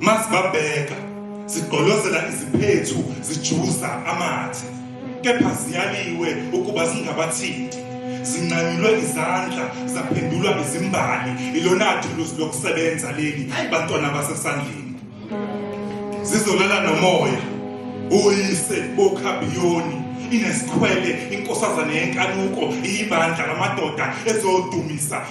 masibabheka zigqolozela iziphethu zijuza amathe kepha ziyaliwe ukuba zingabathinti zinqanyulwe izandla zaphendulwa izimbali ilona thuluzi lokusebenza leli bantwana basesandleni zizolala nomoya uyise bokhabiyoni inesikhwele inkosazane yenkanuko iyibandla lamadoda ezodumisa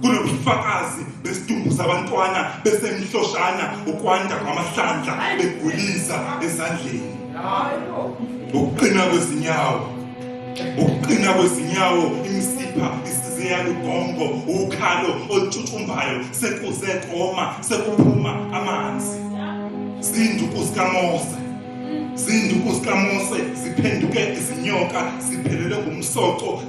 kunobufakazi besidumbu sabantwana besemhloshana ukwanda kwamahlandla begulisa ezandleni ukuqina kwezinyawo ukuqina kwezinyawo imisipha isiziyalugongo ukhalo olutshutshumbhayo sekuze koma sekuphuma amanzi zinduku zikamose zinduku zikamose ziphenduke izinyoka ziphelele ngumsoco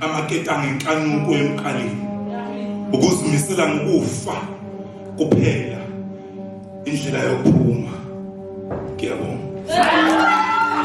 amaketanga inkanuko emqaleni ukuzimisela ngokufa kuphela indlela yokuphuma ngiyabonga